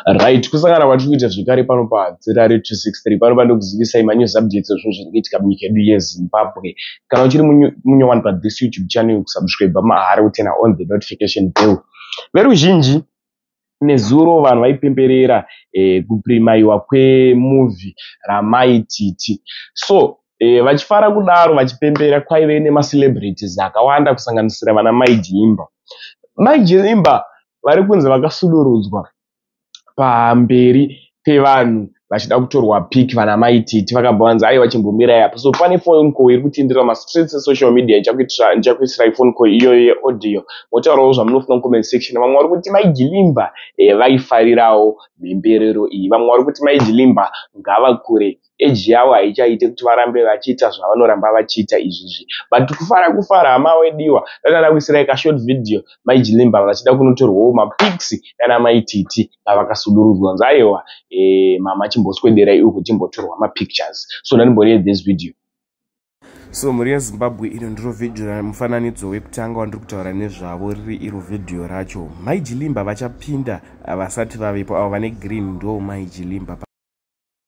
Right, kusangana kwatiri kuita zvekare pano paZRA 263 pano pano kuzivisai manews updates ezvinhu zviri kuitika munyika yedu yeZimbabwe. Kana uchiri munye wani pa this YouTube channel kusubscribe mahara utena on the notification bell. Veruzhinji nezuro vanhu vaipemberera eh, kuprimaiwa kwemuvi ramai titi so eh, vachifara kudaro vachipembera kwaive nemacelebrities akawanda kusanganisira vana mai jiimba mai jiimba vari kunzi vakasudurudzwa pamberi pevanhu vachida kutorwa pic vana mai titi vakabva vanzi aiwa chimbomirai apa so pane phone call iri kutenderera mastreets esocial media ndichakuitirai phone call iyoyo yeaudio motaurawo zvamunofunga mucomment section vamwe vari kuti mai gilimba eh, vaifarirawo mhemberero iyi vamwe vari kuti mai gilimba ngavakure age yavo haichaite kuti varambe vachiita zvavanoramba vachiita izvizvi but kufara kufara hama wediwa ndadada kuisirai kashort video mai jilimba vachida kunotorwawo mapics nana mai titi vavakasudurudzwa nzi aiwa e, eh, mama chimboswederai uku timbotorwa mapictures so ndanimbonei this video so mhuri yezimbabwe ino ndiro vhidhiyo ramufananidzo wekutanga wandiri kutaura nezvavo riri iro vhidhiyo racho mai jilimba vachapinda vasati vavepo avo vane green ndo mai jilimba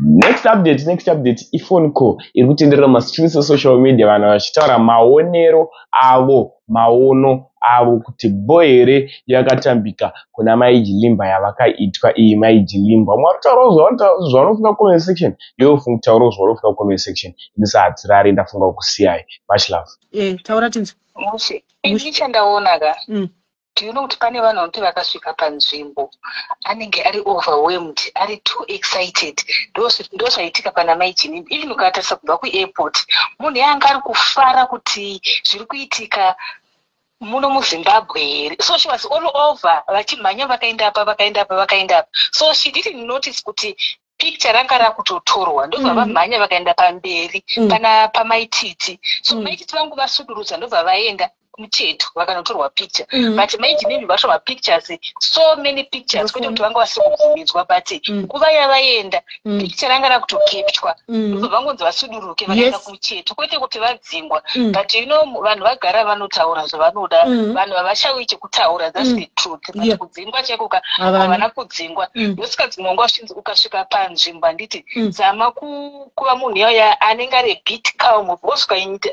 next update next update iphone call iri kutenderera mumastreets esocial media vanhu vachitaura maonero avo maono avo kuti bo here yakatambika kuna mai jilimba yavakaitwa iyi mai jilimba vamwe varikutaurawo zvavanofunga comment section iwe ufunga kutaurawo zvavanofunga comment section ini sahatsirari ndafunga kusiyai much love eh, taura tinzwe mushe ini chandaona ka mm. do you know kuti pane vanhu vanoti vakasvika panzvimbo anenge ari overwhelmed ari too excited ndozvaitika pana mai jini even ukatarisa kubva kuairport munhu yaanga ari kufara kuti zviri kuitika muno muzimbabwe here so she was all over vachimhanya vakaenda apa vakaenda apa vakaenda apa so she didn't notice kuti picture ranga rakutotorwa ndobva mm. vamhanya vakaenda pamberi mm. pana pamaititi so mm. maititi vangu vasudurudza ndobva vaenda mucheto vakanotorwa picture mm. but maiji nemi vacho mapictures so many pictures kwete kuti vanga vasiri kubvumidzwa but nguva yavaenda picture ranga rakutokepchwa ndobva vangonzi vasuduruke vakaenda chete kwete kuti vadzingwa mm. but you know vanhu vagara vanotaura zvavanoda mm. vanhu havashauyi chekutaura thats mm. the truth but yeah. kudzingwa cheko ka havana kudzingwa mm. yosikadzingwa ngo achinzi ukasvika panzvimbo handiti mm. zama kuva munhu yaya anenge ari bit calm because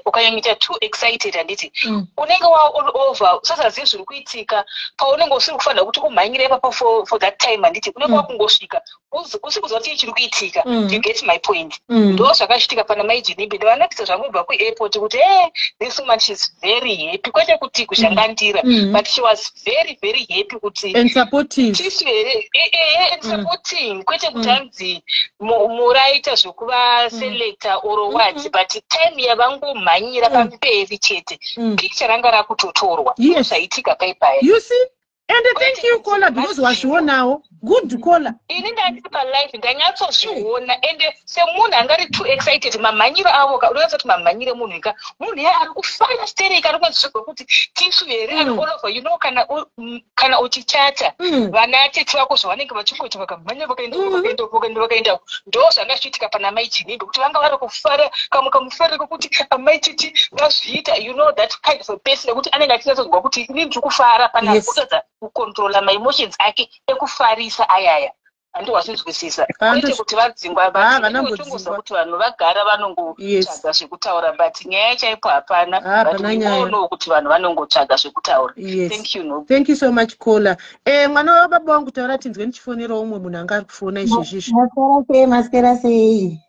ukanyanyoita too excited handiti mm. unenge wa all over usasazivi zviri kuitika paunenge usiri kufanira kuti umhanyire ipapo for, for that time handiti unenge mm. wakungosvika usi kuziva kuti chiri kuitika mm. you get my point mm. ndo zvakachitika pana mai jenibe ndovanakisa zvangu kubva kuairport kuti e this woman sheis very happy kwete kuti kuzhandandira mm. but she was very very happy kuti eh, eh, and supporting kwete kuti anzi muraita zvekuva selecta or what mm-hmm. but time yavangomhanyira pamberi chete picture ranga rakutotorwa zvaitika paipaya and thank you caller because wazvionawo good caller ini ndandiri palife ndanyatsozviona and semunhu anga ari too excited mamhanyiro avo ka unoyatsa kuti mamhanyire munhu ika munhu iye ari kufaya sterei kana kunazvizvigwa kuti tisu here mm. anolova you know kana mm, kana uchichata mm. vana tete vako zvavanenge vachingoita vakamhanya vakaendavakaenda vakaenda ndo zvanga zvichiitika pana mai chinimbe kuti vanga vari kufara kamwe kamufare kokuti amai titi vazviita you know that kind of a person nekuti anenge achinyatsonzwa kuti ini ndiri kufara pana yes. kutadza kucontrola maemotions ake ekufarisa ayaya handi wazvinzwisisa kwete kuti vadzingwa vatongoziva kuti vanhu vagara vanongotsvaga zvekutaura but nyaya chaipo hapana butoonawo kuti vanhu vanongotsvaga zvekutaura thank you so much caller eh, mwana wababa wangu taura tinzwe ndichifonerawo umwe munhu anga ari kufona izvezvizvi maswera sei maswera sei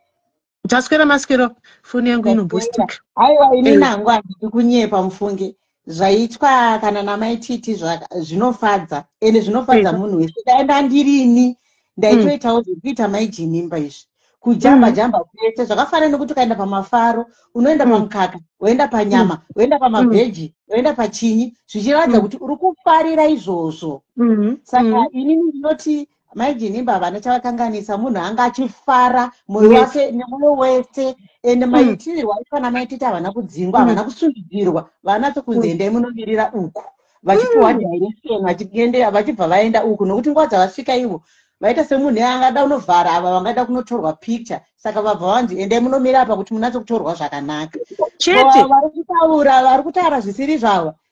kuti aswera maswero foni yangu inobhustika aiwa ini eh. nangu handidi kunyepa mufunge zvaitwa kana namai titi zvinofadza ende zvinofadza eh. munhu wese dai ndandirini ndaitoitawo hmm. zvekuita mai jinimba izvi kujamba hmm. jamba kwese zvakafanana nekuti ukaenda pamafaro unoenda hmm. pamukaka woenda panyama woenda pamabheji woenda pachinyi zvichiratidza kuti uri kufarira izvozvo saka inini ndinoti mai jinimba havana chavakanganisa munhu anga achifara moyo wake nemoyo wese ende mm. maitirwa aifana maititi havana kudzingwa havana mm. kusundidzirwa vanatso kunzi mm. endai munomirira uku vachipiwa direction vachiendea vachibva vaenda uku nokuti nguva dzavasvika ivo vaita semunhu angada unovhara ava vangada kunotorwa picture saka vabva vanzi endai munomira apa kuti munatso kutorwa zvakanaka chete vari kutaura vari kutaura zvisiri zvavo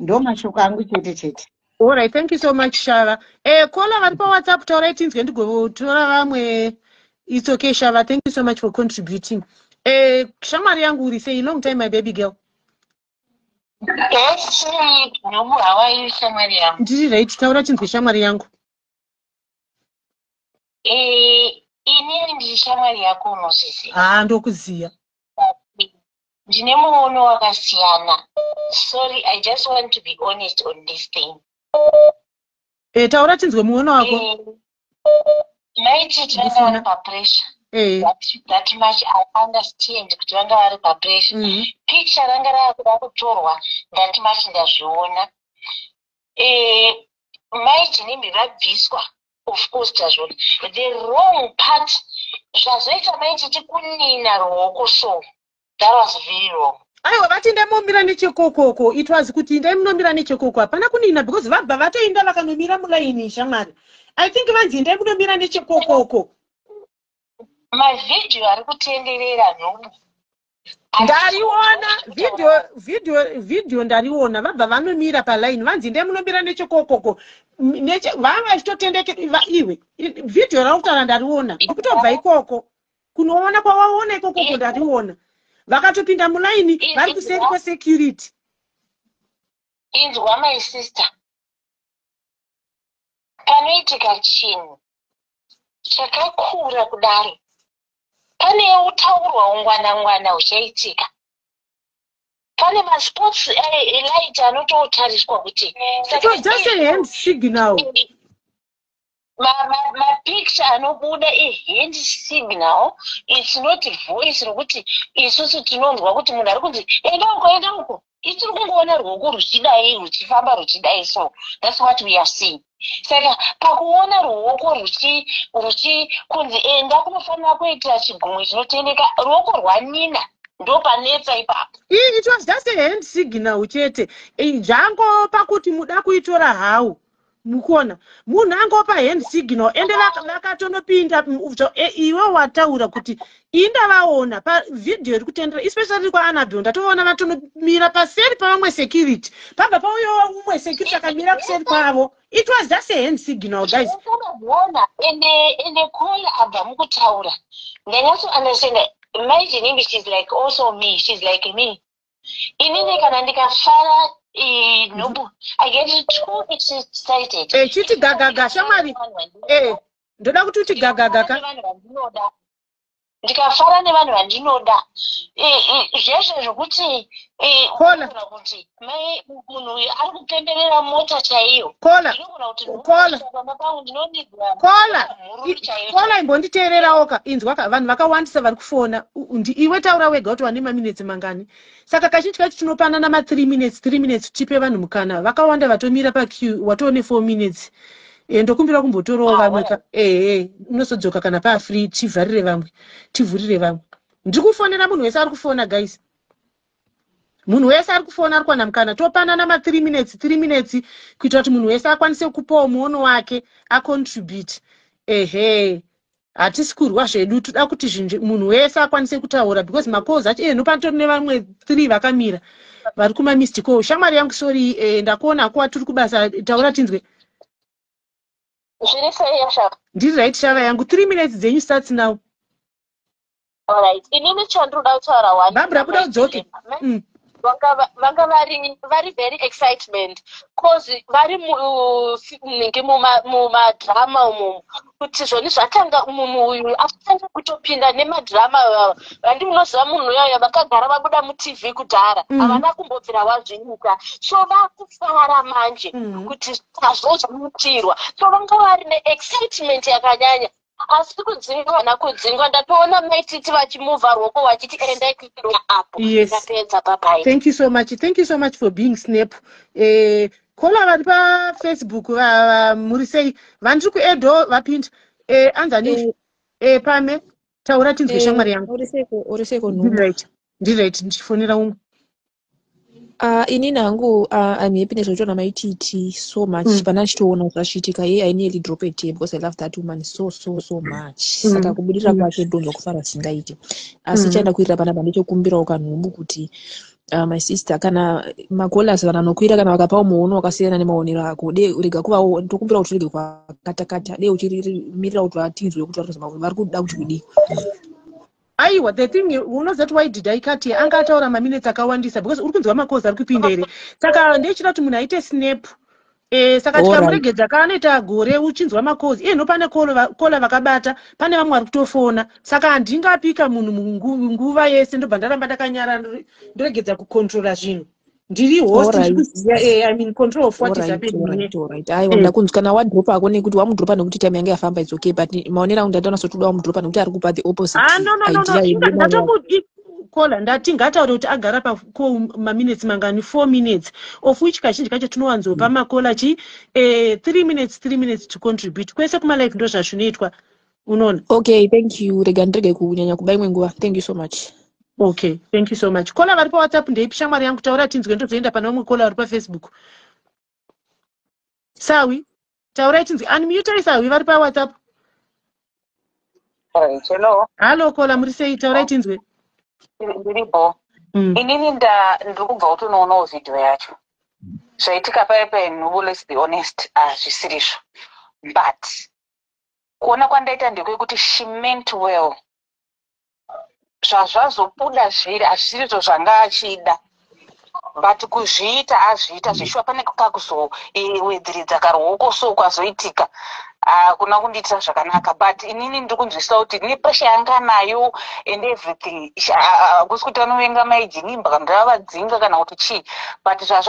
ndomashoko angu chete chete orit thank you so much shava eh, kola vari pawhatsapp taurai tinzwe ndigotora vamwe its okay shava thank you so much for contributing eh, shamwari yangu uri sei long time my baby girl ndiri right taura tinzwe shamwari yangu eh, inini ndiri shamwari yako unozviziva haa ah, ndokuziva ndine muono wakasiyana sorry i just want to be honest on this thing e taura tinzwe muono wako eh, maiti vanga vari papressure eh. that much i understand kuti vanga vari papressure mm-hmm. picture ranga rava kuda kutorwa that much ndazviona eh, mai jinimbi vabviswa of course tazvona the wrong part zvazoita mai titi kunina ruoko so that was very wrong aiwa vati indai momira nechekokoko it was kuti indai munomira nechekoko hapana kunina because vabva vatoinda vakanomira mulaini shamwari i think vanzi indai munomira nechekokoko mavhidhiyo ari kutenderera nhobu ndaiona video video video ndariona vabva vanomira paline vanzi ndee munomira nechekokoko vanga vachitotendeke iwe video rautaura ndariona ndikutobva ikoko kunoona kwavaona ikokoko ndariona vakatopinda mulaini vari kuseri kwesecurity inzwa my sister panoitika chinhu chakakura kudaro pane utaurwa ungwana ngwana huchaitika pane masports elight eh, anototariswa kuti mapicture anobuda ihand signal its not voice rokuti isusu tinonzwa kuti munhu ari kunzi enda uko enda uko itiri kungoona ruoko ruchidai ruchifamba ruchidai so thats what we are seeing saka pakuona ruoko ruchikunzi e eh, ndakunofanira kuita chigumwe chinotendeka ruoko rwanina ndopanetsa ipapo it was just a hand signal chete zvango pakuti muda kuitora how mukuona munhu angopa hand signal ende vakatonopinda e, iwe wataura kuti indavaona pavhidhiyo iri kutendera especially ri kwaanabel ndatovaona vatonomira paseri pavamwe security pabva pauyowa umwe security akamira kuseri kwavo it was just a hand signal guys ndakatoona ende ende call abva mukutaura ndanyatso understand imagine imi she's like also me she's like me inini kana ndikafara eh, nhubu i get too excited eh, chiti gagaga shamwari eh, ndoda kuti uti gagaga ka ndikafara nevanhu vandinoda zvese zvekuti kuti munhu uyu ari kutenderera mota chaiyo kola ndinogona kuti kola pamba pangu ndinonigwa kola kola imbonditeererawoka inzwaka vanhu vakawandisa vari kufona iwe taura wega kuti wane maminetsi mangani saka kazhinji kacho tinopanana ma 3 minutes 3 minutes tipe vanhu mukana vakawanda vatomira pac watoone 4 minutes e, ndokumbira kumbotorawo ah, vamwe ehe unozodzoka kana paafree tivharire vamwe tivhurire vamwe ndiri kufonera munhu wese ari kufona guys munhu wese ari kufona ari kuwana mukana topanana ma 3 minutes 3 minutes kuitira kuti munhu wese akwanise kupawo muono wake acontribute ehe hatisi kurwa zvedu toda kuti zvinhu munhu wese akwanise kutaura because macalls acho ehe nopanotori nevamwe three vakamira vari kumamist call shamwari yangu sori eh, ndakuona akuwa tiri kubasa taura tinzwe zviri sei yashava ndiri right shava yangu three minutes dzenyu starts now Alright, inini chandinoda kutaura wani. Barbara buda udzoke. Mm. Vanga vari vari very excitement cause vari munenge mumadrama umo kuti zvoni zvatanga mumu uyu atanga kutopinda nemadrama ivava vandi munoziva munhu uyaya vakagara vabuda mutv kudhara mm. havana kumbobvira wazviita so vakufara manje mm. kuti sazvo zvaitirwa so vanga vari neexcitement yakanyanya asi kudzingwa hana kudzingwa ndatoona maititi vachimuvha rwoko vachiti endai kuiroa apo yes. ndapedza babai thank you so much thank you so much for being snap eh, kola vari pafacebook muri sei vandiri kuedo vapinda eh, anzani eh. eh, pame taura tinzwe eh, shamwari yangu uri seiko nhu ndirit ndichifonera umwe Uh, inini hangu uh, I'm happy nezvaitaura mai titi so much mm. pana ndichitoona zvachiitika ye I nearly drop a tear because I love that woman so so so much mm. saka kubudirira mm. kwake ndonzwa kufara singaite asi mm. chaenda kuirira panapa ndichokumbirawo kanhubu kuti uh, my sister kana magolas kana nokuira kana vakapawo muono wakasiyana nemaonero ako de rega kuvawo tokumbira kuti urege kwakatakata de uchirimirira kuti vatinzwe kuti vari kuda kuti kudii aiwa the thing unoziva kuti why did i cut here anga ataura maminutes akawandisa because uri kunzwa makozi ari kupinda here saka ndeichida kuti munhu aite snap Eh, saka tikamuregedza ka anoita gore uchinzwa makozi iye nopane kola vakabata pane vamwe vari kutofona saka handingapika munhu nguva yese ndobva ndaramba ndakanyara ndoregedza kukontrola zvinhu ndiri host ndikuziva eh, i mean control of what is happening right, right. aiwa mm. ndakunzi kana wadropa ako nekuti wamudropa nekuti time yange yafamba it's okay but maonera angu ndaita nasotoda wamudropa nekuti ari kupa the opposite ah, no, no, no, no. ndatomudi kola ndati ngataure kuti agara pako maminutes mangani four minutes of which kazhinji kacho tinowanzopa mm. makola chi eh, three minutes three minutes to contribute kwese kumalive ndo zvazvinoitwa unoona okay thank you rega ndirege kunyanya kuba imwe nguva thank you so much okay thank you so much kola vari pawhatsapp ndeipi shamwari yangu taura tinzwe ndozoenda pana umwe kola vari pafacebook sawi taurai tinzwe unmutai sawi vari pawhatsapp hello hallo kola muri sei taurai tinzwe ndiripo mm. inini ndiri kubva kutonoonawo vhidhiyo yacho zvaitika paye penhubu let's be honest hazvisirizvo ah, but kuona kwandaita ndekwekuti she meant well zvazvazobuda zviri hazvirizvo zvanga achida but kuzviita azviita mm. zveshuwa pane kakuzowedziridza karuoko so kwazoitika hakuna kundiitira zvakanaka but inini ndiri kunzwisisa kuti nepresha yanga nayo and everything hakusi kuti anovenga maijinimba kana kuti avadzinga kana kuti chii but zvazva